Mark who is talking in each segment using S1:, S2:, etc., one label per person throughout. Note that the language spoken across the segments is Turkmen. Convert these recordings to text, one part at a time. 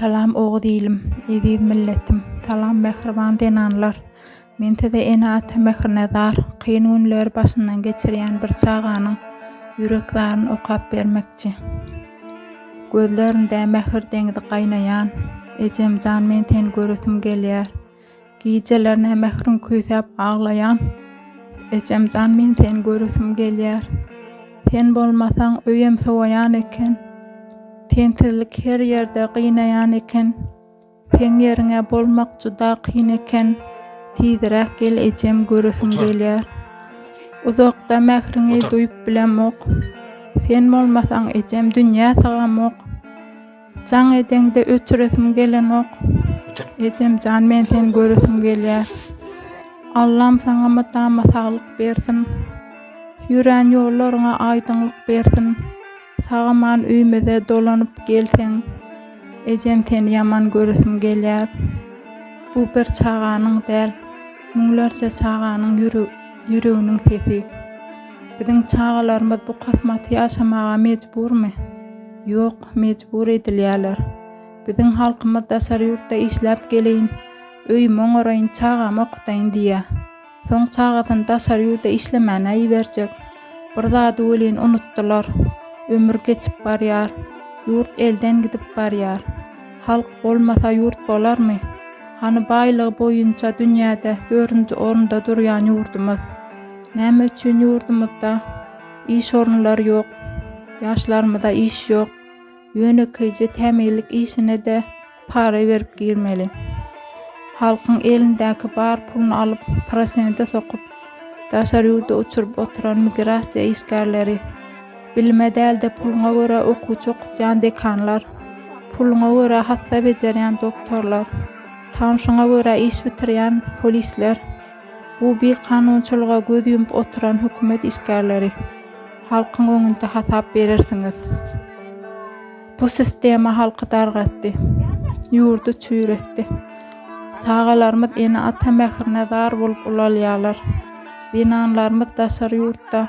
S1: Salam Oguz ilim, eziz milletim, salam mähriban zenanlar. Men size ene-ata mährine zar, kyn günleri başyndan geçirýän bir çaganyň ýürek zaryny okap bermekçi. Gözleriňde mähir deňzi gaýnaýan, Ejem jan men seni göresim gelýär. Gijelerine mähriň küýsäp aglaýan, Ejem jan men seni göresim gelýär. Sen bolmasaň öýem sowaýan eken, Sensizlik her ýerde gynaýan eken. Seň ýeriňe bolmak juda kyn eken tizräk gel ejem göresim gelýär. Uzakda mähriňi duýup bilemok. Sen bolmasaň ejem dünýä sygamok. Jaň edeňde öçüresim gelenok. Ejemjan men seni göresim gelýär. Allam saňa mydama saglyk bersin. Ýörän ýollaryňa aýdyňlyk bersin. Sagaman öýmüze dolanyp gelseň. Ejem seni ýaman göresim gelýär. Bu bir çaganyň däl, müňlerçe çaganyň ýüreginiň sesi. Biziň çagalarymyz bu kasmaty ýaşamaga mejburmy? Ýok, mejbur edilýärler. Biziň halkymyz daşary ýurtda işläp geleýin, öýümi oňaraýyn, çagamy okutaýyn diýýär. Soň çagasyny daşary ýurda işlemäne iberjek. Bir zady welin unutdylar. Ömür geçip barýar. Ýurt elden gidip barýar. Halk bolmasa ýurt bolarmy? Hany baýlygy boýunça dünýäde dördünji orunda durýan ýurdumyz? Näme üçin ýurdumyzda iş orunlary ýok? Ýaşlarymyza iş ýok. Ýönekeýje tämizlik işine-de, Para berip girmeli. Halkyň elindäki bar puluny alyp, prosente sokup, daşary ýurda uçuryp oturan migrasiýa işgärleri, bilime däl-de puluňa görä okuwçy okutýan dekanlar, puluňa görä hassa bejerýän doktorlar, tanşyňa görä iş bitirýän polisler, bu bikanunçylyga göz ýumup oturan hökümet işgärleri, halkyň öňünde hasap berersiňiz. Bu sistema halky dargatdy, ýurdy çüýretdi. Çagalarymyz ene-ata mährine zar bolup ulalýarlar. Zenanlarymyz daşary ýurtda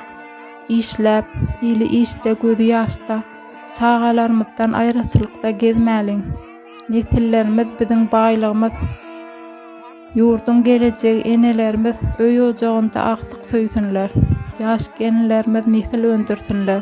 S1: işläp, ili işde, gözi ýaşda, çagalarymyzdan aýraçylykda gezmäliň. Nesillerimiz biziň baýlygymyz. Ýurduň gelejegi enelerimiz öý-ojagynda agtyk söýsünler, ýaş gelinlerimiz nesil öndürsinler.